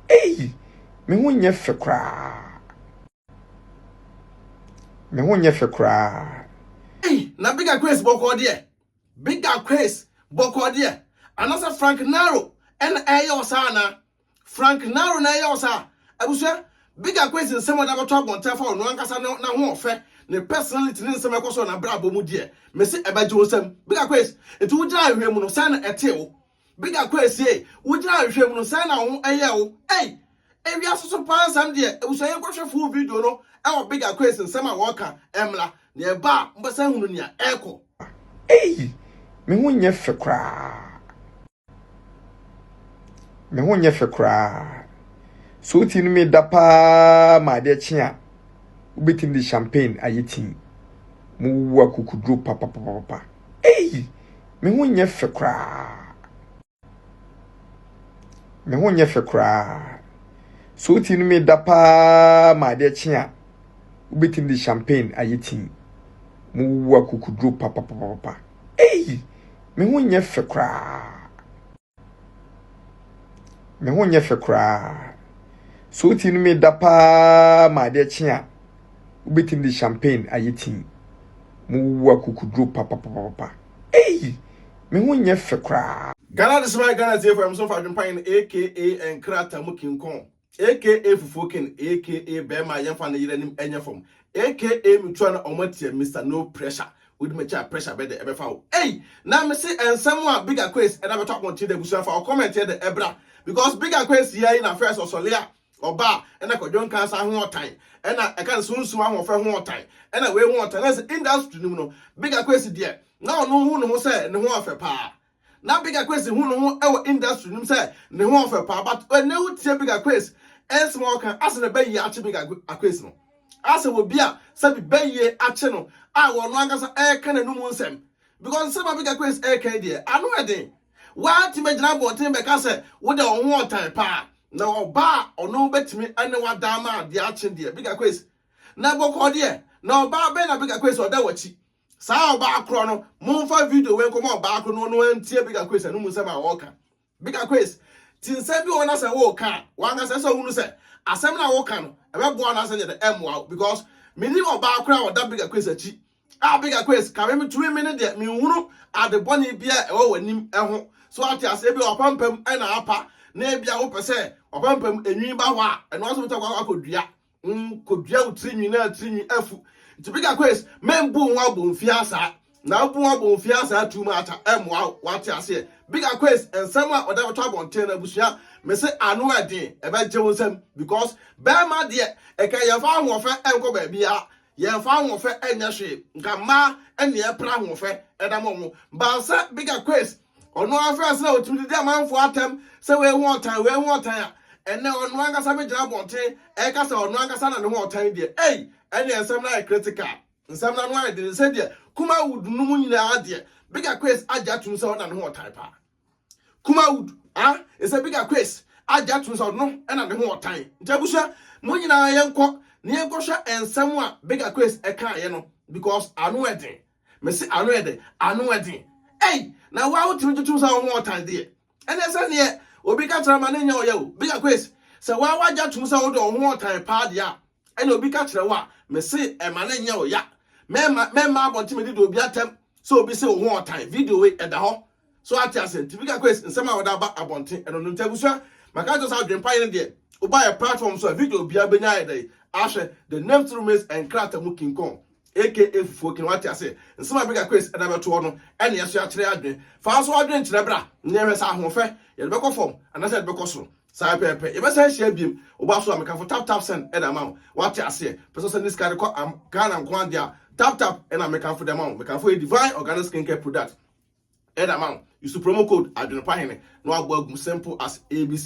Ei! Me ho nyɛ fɛ koraa. Me ho nyɛ fɛ koraa. Ei! Na Bigger Craze bɔkɔɔ deɛ. Bigger Craze bɔkɔɔ deɛ. Anaasɛ Frank Naro na ɛreyɛ wo saa anaa? Frank Naro na ɛreyɛ wo saa? Abusua, Bigger Craze nsɛm a ɔde abɛto abɔnten afa ɔno ankasa ne n'ahoɔfɛ, ne personality ne nsɛm a ɛkɔ so wɔ n'abrabɔ mu deɛ, mese ɛbɛgye wo nsam. Bigger Craze, nti wogyina ahwehwɛ mu no, sɛn na ɛtee wo? Bigga Kwessie, wogyina nhwehwɛ mu no sɛn na wo ho yɛ wo? Ei! Ewiase so paa nsɛm deɛ, abusua yi nkɔhwɛ full video no wɔ Bigga Kwessie nsɛm a wɔka mmra na ɛba a mobɛsan ahunu nea ɛrekɔ. Ei! Me ho nyɛ fɛ koraa. Me ho nyɛ fɛ koraa. So wo ti no me da paa ma adeɛ kye a, wobɛtumi de champagne ayɛ tii. Mo wuwu akukuduro papapapapa. Ei! Me ho nyɛ fɛ koraa. Me ho nyɛ fɛ koraa. So wotumi no me da paa ma adeɛ kye a, wobɛtumi de champagne ayɛ tii. Mowuwu akokuduro papapapapa. Ei! Me ho nyɛ fɛ koraa. Me ho nyɛ fɛ koraa. So wotumi no me da paa ma adeɛ kye a, wobɛtumi de champagne ayɛ tii. Mowuwu akukuduro papapapapa. Ei! Me ho nyɛ fɛ koraa. Ghana de soma Ghana tiefo a ɛmsom fa adwempa yɛn aka Nkratamu King Kong. Aka fufuo ken aka bɛɛma yɛnfa ne yere anim nyɛ fam aka metua na ɔmo atia Mister no pressure wodi makyi a pressure bɛdɛ ɛbɛfa wo ei na mese nsɛm a big aquace ɛda bɛtɔ abɔnten da abusua fa wo comment yɛ dɛ ɛbra because big aquace yi ayi na first ɔsɔle a ɔba a ɛna kɔdwon kansa ho ɔtan ɛna ɛka ne sunsum ahoɔfɛ ho ɔtan ɛna wei ho ɔtan na sɛ industry no mu no big aquace deɛ na ɔno ho ne ho sɛ ne ho afɛ paa Na Bigger Quace hu no ho wɔ industry no mu sɛ ne ho ɔfɛ paa but ɛnɛ wo tie Bigger Quace nsɛm a ɔka asɛ na bɛyie akye Bigger Quace no asɛ wɔ bi a sɛbi bɛyie akye no a wɔ no ankasa ɛka n'anum nsɛm because nsɛm a Bigger Quace ɛka yi deɛ ano ɛden waa ti mɛ gyina abɔnten bɛka sɛ wo deɛ ɔho ɔtan paa na ɔba a ɔno bɛtumi ɛne wadaa ma adeɛ akye deɛ Bigger Quace na bɔkɔɔ deɛ na ɔbaa bɛn na Bigger Quace ɔda wɔ akyi Saa ɔbaa korɔ no monfa video wei nkɔma ɔbaa korɔ no ɔno antie Bigger Chris ɛno mu nsɛm a ɔɔka Bigger Chris ti nsɛm bi wɔ hɔ na sɛ wooka a wankasa ɛsɛ ɔhunu sɛ asɛm no a woka no ɛbɛboa no asɛ nyɛ dɛ ɛmmoa wo because menim ɔbaa korɔ a ɔda Bigger Chris akyi a Bigger Chris ka me metumi me ne deɛ menhunu ade bɔne bi a ɛwɔ w'anim ɛho so ate aseɛ bi a wapampam ɛna apa na ebia wopɛ sɛ wapampam enwi ba hɔ a ɛno aso wotumi akɔ akɔdua Hom kodua wo tsirnwi na tsirnwi afu. Ntsi bigger quiz, mennbu ho abomfiaa saa, na abu ho abomfiaa saa too much a, ɛmmoa wo, wɔatse aseɛ? Bigger quiz, nsɛm a wɔdze bɛtɔ abɔnten no, abusua, mese ano yɛ dzen, ɛbɛgye wo nsam, because bɛrma deɛ, nka yɛmfa ahoɔfɛ nkɔ baabiara, yɛmfa ahoɔfɛ nyɛ hwee, nka mmaa na yɛpere ahoɔfɛ da ma wɔn, baasa bigger quiz, Ɔno ara fɛs na otumi didi amanfoɔ atɛm sɛ wei ho ɔtan wei ho ɔtan a, ɛnɛ ɔno ankasa bɛgyina abɔnten ɛka sɛ ɔno ankasa na ne ho ɔtan deɛ ei ɛneɛ nsɛm no ayɛ critical. Nsɛm no ano ayɛ den sɛ deɛ Kumawood no mu nyinaa deɛ Bigger Quace agye atom sɛ ɔno na ne ho ɔtan paa. Kumawood ah ɛsɛ Bigger Quace agye atom sɛ ɔno na ne ho ɔtan. Nti abusua mo nyinaa yɛnkɔ na yɛnkɔhwɛ nsɛm a Bigger Quace ɛkaeɛ no because ano yɛ den. mese ano yɛ dɛ ano ɛden ei na wa wotumi tutum sa wo ho ɔtan deɛ ɛnɛ sɛ neɛ obi ka kyerɛ ma ne nyɛ ɔyɛ o bigger quiz sɛ wa wagya tum sɛ wode wo ho ɔtan paa deɛ a ɛna obi ka kyerɛ wo a mese ɛma ne nyɛ ɔya mɛma mɛma abɔnten mede de obi atɛm sɛ obi se wo ho ɔtan video wei ɛda hɔ So wate ase? Nti Vicar Quest nsɛm a wɔde aba abɔnten ɛno no. Nti abusua, maka akyerɛ sɛ adwempa yi ne deɛ, woba yɛ platform so a video biara bɛnya ayɛ dɛn? Ahwɛ. The name still remains Nkrata mu Kinkɔn aka Fufuo King, wate ase? Nsɛm a Vicar Quest ɛde abɛto hɔ no ɛne yɛso akyerɛ adwene. Fa nso w'adwene kyerɛ bra na yɛhwɛ sɛ ahoɔfɛ yɛde bɛkɔ fam anaasɛ yɛde bɛkɔ soro. Saa pɛpɛpɛ. Yɛbɛsan ahyia biom. Woba so a mekafo tap tap send ɛde ama wo. Wate aseɛ? Pɛ sɛ ɔsɛn ne sika de kɔ Am Ghana nko ara deɛ a tap tap ɛna mekafo de ama wo. Mekafo yɛ Divine Organic Skincare Product. Ɛna ma wo, use promo code Adwenepa Hene na wabɔ agu mu simple as ABC.